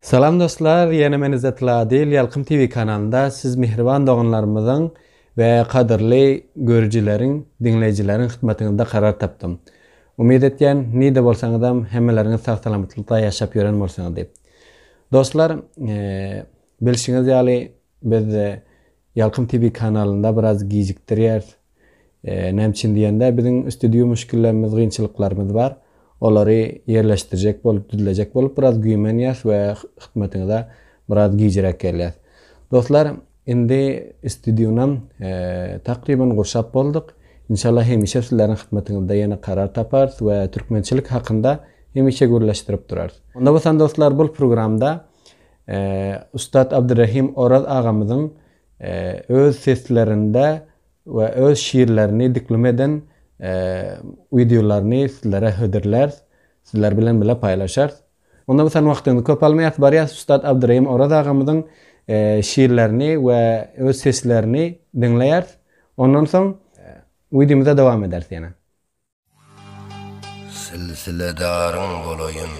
Salam dostlar ýene men Yzzetgul Adyl Ýalkym TV kanalynda siz mähriban doganlarymyzyň we gadyrly görüjileriň diňleýjileriň hytmatyňyzda karar tapdym. Umyt etýän nirde bolsaňyzam hemmeleriňiz sag salamatlykda ýaşap ýören bolsaňyz diýip. Dostlar bilşiňiz ýaly biz Ýalkym TV kanalynda biraz gijikdirýäris. Näme üçin diýende, biziň üsti-düwi müşgillerimiz, gynçylyklarymyz bar. Olary ýerleşdirjek bolup, düzlejek bolup biraz güýmenýäs we hytmatyňyza biraz gijräk gelýäs. Dostlar, indi üsti-düwünam takryban gurşap bolduk. Inşallah hemişe sizleriň hytmatyňyzda ýene karar taparys we türkmençilik hakynda hemişe gürleşdirip durarys. Onda bolsa dostlar, bul programda ussat Abdyrahym Oraz agamyzyň öz seslerinde we öz şiirlerini diklum eden wideolaryny sizlere hödürläris, sizler bilen bile paýlaşarys. Onda bu sen wagtyňyzy köp almaýas, barýas ussat Abdyrahym Oraz agamyzyň şiirlerini we öz seslerini diňleýäris. Ondan soň wideomyza dowam ederis ýene. Silsiledaryň bolaýyn.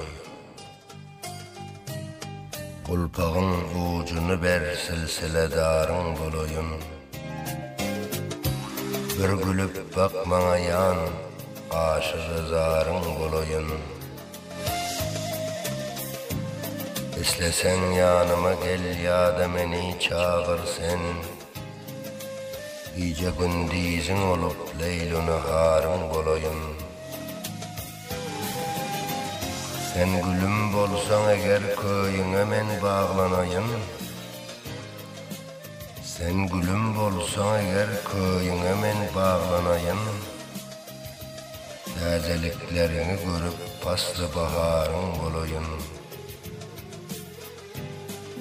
Gulpagyň ujuny ber silsiledaryň bolaýyn. Bir gülüp bak maňa jan aşygy zaryň bolaýyn. Isleseň ýanyma gel ýa-da meni çagyr sen. Gije-gündiziň bolup, leýlu-naharyň bolaýyn. Sen gülüm bolsaň eger, köýüňe men baglanaýyn. Sen gülüm bolsaň eger, köýüňe men baglanaýyn. Täzelikleriňi görüp, pasly-baharyň bolaýyn.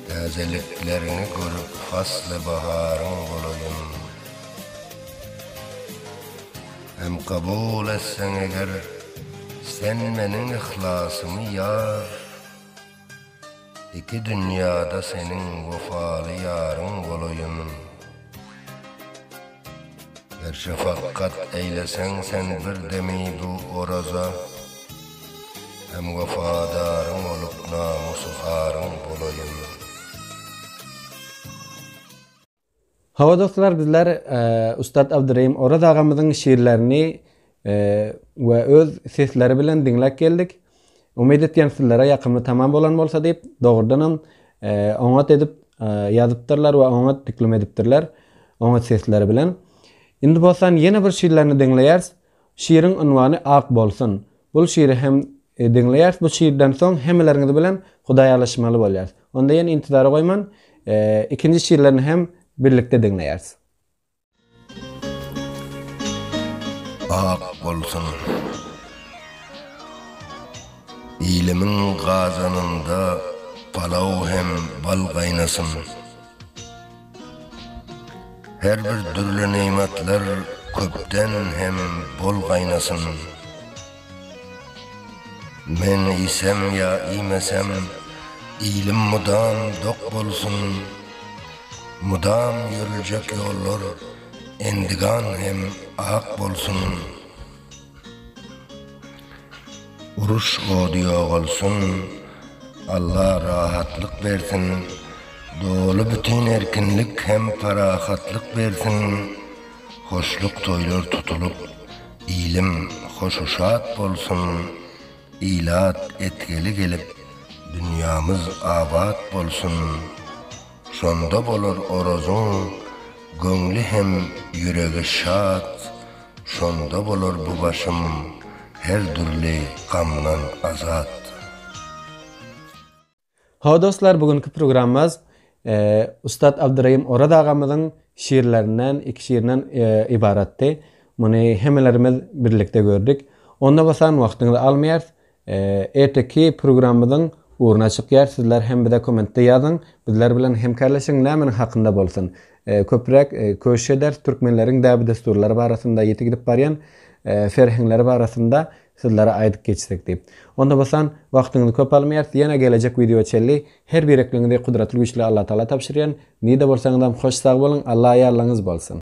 Täzelikleriňi görüp fasly baharyň bolaýyn. Hem kabul etseň eger sen meniň yhlasymy ýar, Iki dünýada seniň wepaly ýaryň bolaýyn. Her şafakgat eýleseň sen bir demi bu oraza Hem wefadaryň bolup namysy aryň bolaýyn. Hawa dostlar bizler Ussat Abdyrahym Oraz agamyzyň şiirlerini we öz sesleri bilen diňläp geldik. Umyt etýän sizlere ýakymly tamam bolan bolsa diýip, dogrudanam oňat edip ýazypdyrlar we oňat diklum edipdirler. Oňat sesleri bilen. Indi bolsa ýene bir şiirlerini diňleýäris. Şiiriň unwany Ak bolsun. Bul şiiri hem diňleýäris. Bu şiirden soň hemmeleriňiz bilen hudaýalaşmaly bolýarys. Onda ýene intizara goýman, ikinji şiirlerini hem birlikde diňleýäris. Ak bolsun Ilimiň gazanynda palaw hem bal gaýnasyn Her bir dürli nymatlar köpden hem bol gaýnasyn. Men iýsem ýa iýmesem, ilim mydam dok bolsun, Mydam ýörüljek ýollar endigan hem ak bolsun. Uruş ody ýogalsyn, Alla rahatlyk bersin, Doly-bütin erkinlik hem parahatlyk bersin. Hoşluk toýlar tutulyp, ilim hoşu-şat bolsun, ilat etgeli gelip, dünýämiz abat bolsun. Şonda bolar Orazyň göňli hem ýüregi şat, şonda bolar bu başym her dürli gamdan azat. Hawa dostlar bu günki programmaz ussat Abdyrahim Oraz agamyzyň şiirlerinden iki şiirinden ybaratdy. Muny hemmelerimiz birlikde gördük. Onda bolsan wagtyňyzy almaýarys. Erteki programmyzyň ugruna çykýar. Sizler hem bize kommentde ýazyň. Bizler bilen hemkarlaşyň nämeniň hakynda bolsun. Köpräk köşüş ederis türkmenleriň däbi-dessurlary barasynda ýiti gidip barýan serheňleri barasynda Sizlere aýdyp geçsek diýip. Onda bolsan wagtyňyzy köp almaýarys ýene gelejek wideo çenli her birekliňizi gudratly güçli Allatagala tabşyrýan nirde bolsaňyzam hoş sag boluň Alla ýarlygyňyz bolsun.